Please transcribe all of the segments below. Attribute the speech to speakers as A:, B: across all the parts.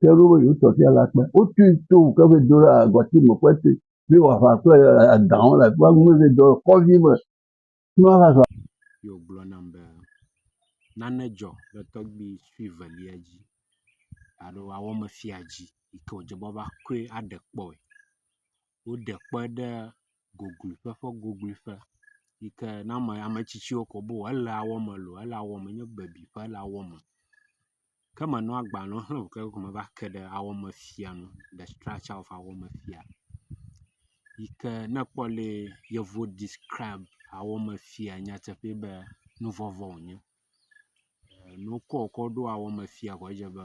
A: ke ɖo be yewo tɔ fia le akpa. Wotui to ke va yi do ɖe agɔti me kpe te be wòaʋã kple adãwo le afi ma. Ame eve dɔ le kɔdzi me ne woava zɔ. Ye wògblɔ nam be nane dzɔ le tɔgbui sue velia dzi alo woawɔme fia dzi yi ke wòdze be woava kɔe aɖe kpɔe. Woɖe kpɔe ɖe gogloƒe ƒe gogloƒe yi ke ne ame ame tsitsiwo ko be elea wɔme loo, elea wɔme nye bebi ƒe elea wɔme. Ke menɔ agbalẽ xlẽ o ke ko meva ke ɖe awɔmefia ŋu le structure of awɔmefia yi ke ne ekpɔ le yevu describ awɔmefia nyateƒe be nuvɔvɔ̃ wonye. Enu ke wokɔ ɖo awɔmefia koe dze be.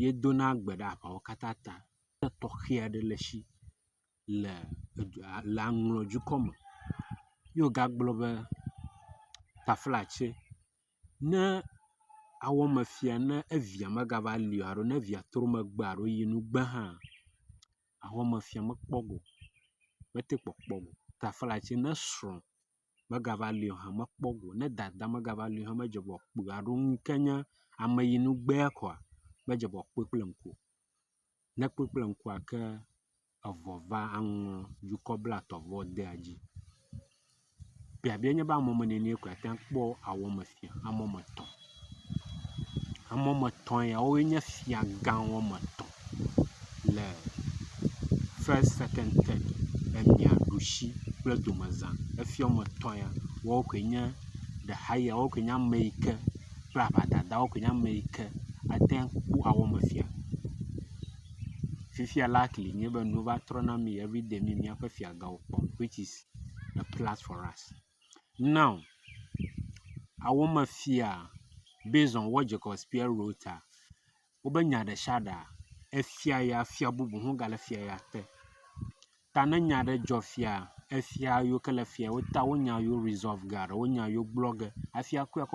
A: ye dona gbe ɖe aʋawo katã ta. Ame tɔxe aɖe le esi le le aŋlɔ dukɔ me ye wo gagblɔ be taflatse ne awɔme fia ne evia megava li o alo ne evia trɔ megbe alo yi nu gbe hã awɔmefia mekpɔ go mete kpɔkpɔ go. Taflatse ne srɔ̃. megava li o hã mekpɔ go ne dada megava li o hã medze ŋgɔ kpui alo nu yi ke nye ame yi nu gbea koa medze ŋgɔ kpɔe kple ŋku o. Ne ekpɔe kple ŋkua ke eŋɔ va aŋlɔ dukɔ blatɔ̃vɔ dea dzi. Biabia nye be ame woame ene koe ate ŋu akpɔ awɔmefia ame woame etɔ̃. Ame wɔme etɔ̃ ya wowoe nye fiagã wɔme etɔ̃ le fest, sekɔnd, tɛd emia ɖusi kple domeza. Efia wɔme etɔ̃ ya woawo koe nye de haya woawo koe nye ame yi ke kple aʋadada woawo koe nye ame yi ke ate ŋu akpɔ awɔmefia. Fifia likely nye be nuwo va trɔ na mí everyday mí míaƒe fiagãwo kpɔm which is a plus for us. Now awo me fia based on what Jacob Spier wrote a, wobe nya ɖe sia ɖea, efia ya fia bubu hã gale fia ya te. Ta ne nya aɖe dzɔ fiaa, efia yiwo ke le fia ya te wonya yewo resolve ge alo wonya yewo gblɔ ge hafi akɔe akɔ…